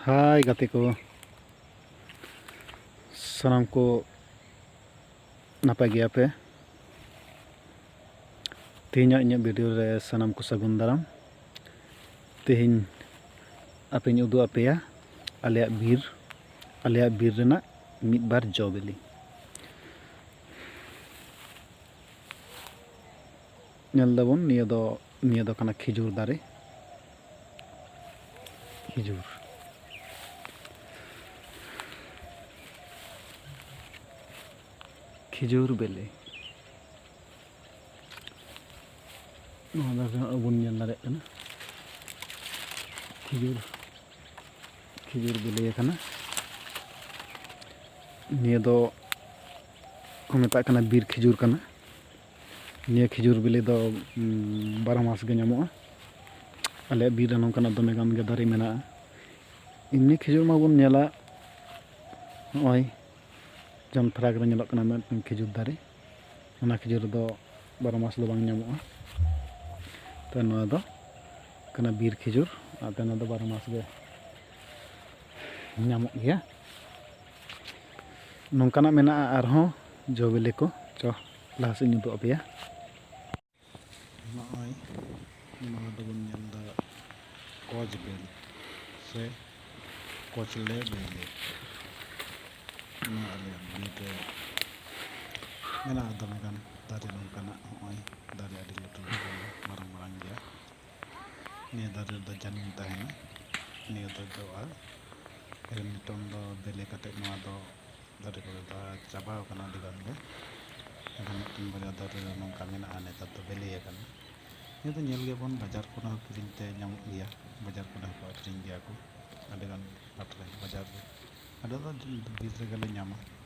ᱦᱟᱭ ᱜᱟᱛᱮ ᱠᱚ ᱥᱟᱱᱟᱢ ᱠᱚ ᱱᱟᱯᱟᱭ ᱜᱮᱭᱟ ᱯᱮ ᱛᱮᱦᱮᱧᱟᱜ ᱤᱧᱟᱹᱜ ᱵᱷᱤᱰᱤᱭᱳ ᱨᱮ ᱥᱟᱱᱟᱢ ᱠᱚ ᱥᱟᱹᱜᱩᱱ ᱫᱟᱨᱟᱢ ᱛᱮᱦᱮᱧ ᱟᱯᱮᱧ ᱩᱫᱩᱜ ᱟᱯᱮᱭᱟ ᱟᱞᱮᱭᱟᱜ ᱵᱤᱨ ᱟᱞᱮᱭᱟᱜ ᱵᱤᱨ ᱨᱮᱱᱟᱜ ᱢᱤᱫ ᱵᱟᱨ ᱡᱚ ᱵᱤᱞᱤ ᱧᱮᱞ ᱫᱟᱵᱚᱱ ᱱᱤᱭᱟᱹ ᱫᱚ ᱱᱤᱭᱟᱹ ᱫᱚ ᱠᱟᱱᱟ ᱠᱷᱤᱡᱩᱨ ᱫᱟᱨᱮ ᱠᱷᱤᱡᱩᱨ ᱠᱷᱤᱡᱩᱨ ᱵᱮᱞᱮ ᱱᱚᱣᱟ ᱫᱟᱨᱮ ᱦᱚᱸ ᱟᱵᱚᱱ ᱧᱮᱞ ᱫᱟᱲᱮᱭᱟᱜ ᱠᱟᱱᱟ ᱠᱷᱤᱡᱩᱨ ᱠᱷᱤᱡᱩᱨ ᱵᱮᱞᱮ ᱠᱟᱱᱟ ᱱᱤᱭᱟᱹ ᱫᱚ ᱠᱚ ᱢᱮᱛᱟᱜ ᱠᱟᱱᱟ ᱵᱤᱨ ᱠᱷᱤᱡᱩᱨ ᱠᱟᱱᱟ ᱱᱤᱭᱟᱹ ᱠᱷᱤᱡᱩᱨ ᱵᱤᱞᱤ ᱫᱚ ᱵᱟᱨᱚ ᱢᱟᱥ ᱜᱮ ᱧᱟᱢᱚᱜᱼᱟ ᱟᱞᱮᱭᱟᱜ ᱵᱤᱨ ᱨᱮ ᱱᱚᱝᱠᱟᱱᱟᱜ ᱫᱚᱢᱮ ᱜᱟᱱ ᱜᱮ ᱫᱟᱨᱮ ᱢᱮᱱᱟᱜᱼᱟ ᱮᱢᱱᱤ ᱠᱷᱤᱡᱩᱨ ᱢᱟᱵᱚᱱ ᱧᱮᱞᱟ ᱱᱚᱜᱼᱚᱭ ᱡᱚᱢ ᱯᱷᱟᱨᱟᱠ ᱨᱮ ᱧᱮᱞᱚᱜ ᱠᱟᱱᱟ ᱢᱤᱫᱴᱟᱝ ᱠᱷᱤᱡᱩᱨ ᱫᱟᱨᱮ ᱚᱱᱟ ᱠᱷᱤᱡᱩᱨ ᱫᱚ ᱵᱟᱨᱚ ᱢᱟᱥ ᱫᱚ ᱵᱟᱝ ᱧᱟᱢᱚᱜᱼᱟ ᱛᱚ ᱱᱚᱣᱟ ᱫᱚ ᱠᱟᱱᱟ ᱵᱤᱨ ᱠᱷᱤᱡᱩᱨ ᱟᱨ ᱱᱚᱣᱟ ᱫᱚ ᱵᱟᱨᱚ ᱢᱟᱥ ᱜᱮ ᱧᱟᱢᱚᱜ ᱜᱮᱭᱟ ᱱᱚᱝᱠᱟᱱᱟᱜ ᱢᱮᱱᱟᱜᱼᱟ ᱟᱨᱦᱚᱸ ᱡᱚ ᱵᱤᱞᱤ ᱠᱚ ᱡᱚ ᱞᱟᱦᱟ ᱥᱮᱫ ᱤᱧ ᱩᱫᱩᱜ ᱟᱯᱮᱭᱟ ᱱᱚᱜᱼᱚᱭ ᱱᱚᱣᱟ ᱫᱚᱵᱚᱱ ᱧᱮᱞ ᱮᱫᱟ ᱠᱚᱪ ᱵᱮᱞ ᱥᱮ ᱠᱚᱪᱞᱮ ᱵᱮᱞᱮ ᱱᱚᱣᱟ ᱟᱞᱮᱭᱟᱜ ᱵᱤᱨ ᱨᱮ ᱢᱮᱱᱟᱜᱼᱟ ᱫᱚᱢᱮ ᱜᱟᱱ ᱫᱟᱨᱮ ᱱᱚᱝᱠᱟᱱᱟᱜ ᱱᱚᱜᱼᱚᱭ ᱫᱟᱨᱮ ᱟᱹᱰᱤ ᱞᱟᱹᱴᱩ ᱞᱟᱹᱴᱩ ᱢᱟᱨᱟᱝ ᱢᱟᱨᱟᱝ ᱜᱮᱭᱟ ᱱᱤᱭᱟᱹ ᱫᱟᱨᱮ ᱨᱮᱫᱚ ᱡᱟᱹᱱᱩᱢ ᱛᱟᱦᱮᱱᱟ ᱱᱤᱭᱟᱹ ᱫᱚ ᱡᱚᱜᱼᱟ ᱱᱤᱛᱚᱝ ᱫᱚ ᱵᱮᱞᱮ ᱠᱟᱛᱮ ᱱᱚᱣᱟ ᱫᱚ ᱫᱟᱨᱮ ᱠᱚᱨᱮ ᱫᱚ ᱪᱟᱵᱟᱣ ᱠᱟᱱᱟ ᱟᱹᱰᱤ ᱜᱟᱱ ᱜᱮ ᱮᱱᱠᱷᱟᱱ ᱢᱤᱫᱴᱮᱱ ᱵᱟᱨᱭᱟ ᱫᱟᱨᱮ ᱨᱮ ᱱᱚᱝᱠᱟ ᱢᱮᱱᱟᱜᱼᱟ ᱱᱮᱛᱟᱨ ᱫᱚ ᱵᱮᱞᱮ ᱟᱠᱟᱱᱟ ᱱᱤᱭᱟᱹ ᱫᱚ ᱧᱮᱞ ᱜᱮᱭᱟᱵᱚᱱ ᱵᱟᱡᱟᱨ ᱠᱚᱨᱮ ᱦᱚᱸ ᱠᱤᱨᱤᱧ ᱛᱮ ᱧᱟᱢᱚᱜ ᱜᱮᱭᱟ ᱵᱟᱡᱟᱨ ᱠᱚᱨᱮ ᱦᱚᱸᱠᱚ ᱟᱹᱠᱷᱨᱤᱧ ᱜᱮᱭᱟ ᱠᱚ ᱟᱹᱰᱤ ᱜᱟᱱ ᱦᱟᱴ ᱨᱮ ᱵᱟᱡᱟᱨ ᱨᱮ ᱟᱞᱮ ᱫᱚ ᱵᱤᱨ ᱨᱮᱜᱮ ᱞᱮ ᱧᱟᱢᱟ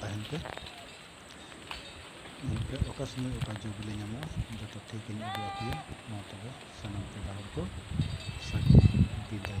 ᱛᱟᱦᱮᱱ ᱯᱮ ᱧᱮᱞ ᱯᱮ ᱚᱠᱟ ᱥᱚᱢᱚᱭ ᱚᱠᱟ ᱡᱚ ᱵᱤᱞᱤ ᱧᱟᱢᱚᱜᱼᱟ ᱡᱚᱛᱚ ᱴᱷᱤᱠ ᱤᱧ ᱩᱫᱩᱜ ᱟᱯᱮᱭᱟ ᱢᱟ ᱛᱚᱵᱮ ᱥᱟᱱᱟᱢ ᱯᱮᱲᱟ ᱦᱚᱲ ᱠᱚ ᱥᱟᱹᱜᱩᱱ ᱵᱤᱫᱟᱹᱭ